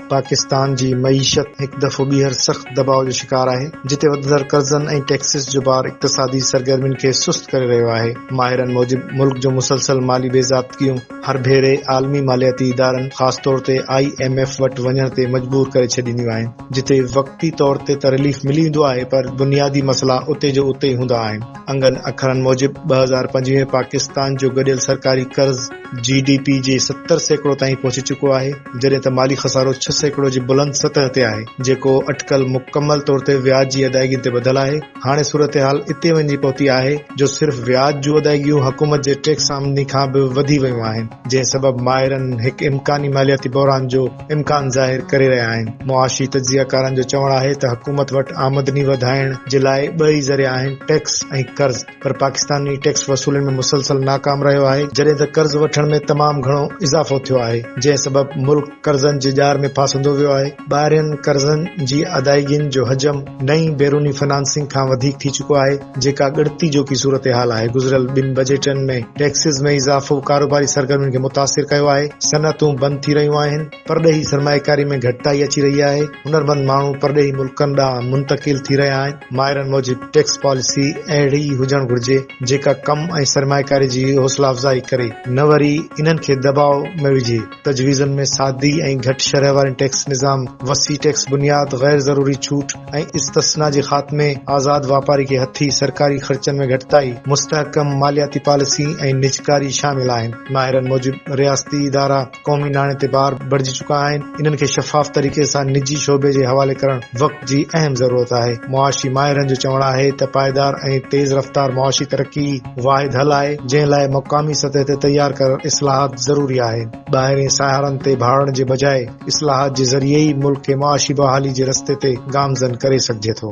پاڪستان جي معيشت هڪ دفعو ٻيهر سخت دٻاء جو شڪار آهي، جتي وڌندڙ قرضن ۽ ٽيڪسز جو بار اقتصادي سرگرمين کي سست ڪري رهيو آهي. ماهرن موجب ملڪ جون مسلسل مالي بي ضابطگيون هر ڀيري عالمي مالياتي ادارن خاص طور تي آء ايم ايف وٽ وڃڻ تي مجبور ڪري ڇڏينديون آهن. جتي وقتي طور تي ته رليف ملي ويندو آهي پر بنيادي مسئلا اتي جو اتي ئي هوندا آهن. انگن اکرن موجب ٻه هزار پنجويهه ۾ پاڪستان جو گڏيل سرڪاري قرض جي ڊي پي جي ستر سيڪڙو تائين پهچي چڪو آهي جڏهن ته مالي خسارو ڇهه سيڪڙو جي بلند سطح تي آهي جيڪو اٽڪل مڪمل طور تي وياج جي ادائيگين تي ٻڌل آهي هاڻي صورتحال اتي وڃي پهتي آهي جو صرف وياج جون ادائيگيون حڪومت جي ٽيڪس آمدني کان به وڌي ويون آهن جنهن سبب ماهرن هڪ امڪاني مالياتي بحران جو امڪان ظاهر ڪري رهيا آهن. معاشي تجزيه ڪارن جو چوڻ آهي ته حڪومت وٽ آمدني وڌائڻ جي لاء ٻه ئي ذريعا آهن ٽيڪس ۽ قرض پر پاڪستان ئي ٽيڪس وصولين ۾ مسلسل ناڪام رهيو آهي جڏهن ته قرض وٺڻ ۾ تمام گهڻو اضافو ٿيو آهي جنهن سبب ملڪ قرضن جي ڄار ۾ ڦاسندو ويو آهي ٻاهرين قرضن جي ادائيگين جو حجم نئين بيروني فنانسنگ کان وڌيڪ ٿي چڪو آهي، جيڪا ڳڻتي جوکي صورتحال آهي، گذريل ٻن بجيٽن ۾ ٽيڪسز ۾ اضافو ڪاروباري سرگرمين کي متاثر ڪيو آهي، صنعتون بند ٿي رهيون آهن، پرڏيهي سرمائيڪاري ۾ گهٽتائي اچي رهي آهي، هنرمند ماڻهو پرڏيهي ملڪن ڏانهن منتقل ٿي رهيا آهن، ماهرن موجب ٽيڪس پاليسي اهڙي ئي هجڻ گهرجي، جيڪا ڪم ۽ سرمائيڪاري جي حوصلا افزائي ڪري، نه وري انهن کي دٻاء ۾ وجهي. تجويزن ۾ سادي ۽ گهٽ شرح وارين ٽيڪس نظام، وسيع ٽيڪس بنياد، غير ضروري ڇوٽ ۽ استثنا جي خاتمي، آزاد واپاري کي هٿي، سرڪاري خرچن ۾ گهٽتائي، مستحڪم مالياتي پاليسي ۽ نجڪاري شامل آهن. ماهرن موجب رياستي ادارا قومي ناڻي تي بار بڻجي چڪا آهن، انهن کي شفاف طريقي سان نجي شعبي جي حوالي ڪرڻ وقت جي اهم ضرورت آهي. معاشي ماهرن جو چوڻ آهي ته پائيدار ۽ تيز رفتار معاشي ترقي ئي واحد حل آهي جنهن لاء مقامي سطح تي تيار ڪرڻ اصلاحات ضروري آهي ٻاهرين ساهرن تي ڀاڙڻ جي بجاء اصلاحات جي ذريعي ئي ملڪ کي معاشي بحالي جي رستي تي گامزن ڪري سگهجي ٿو.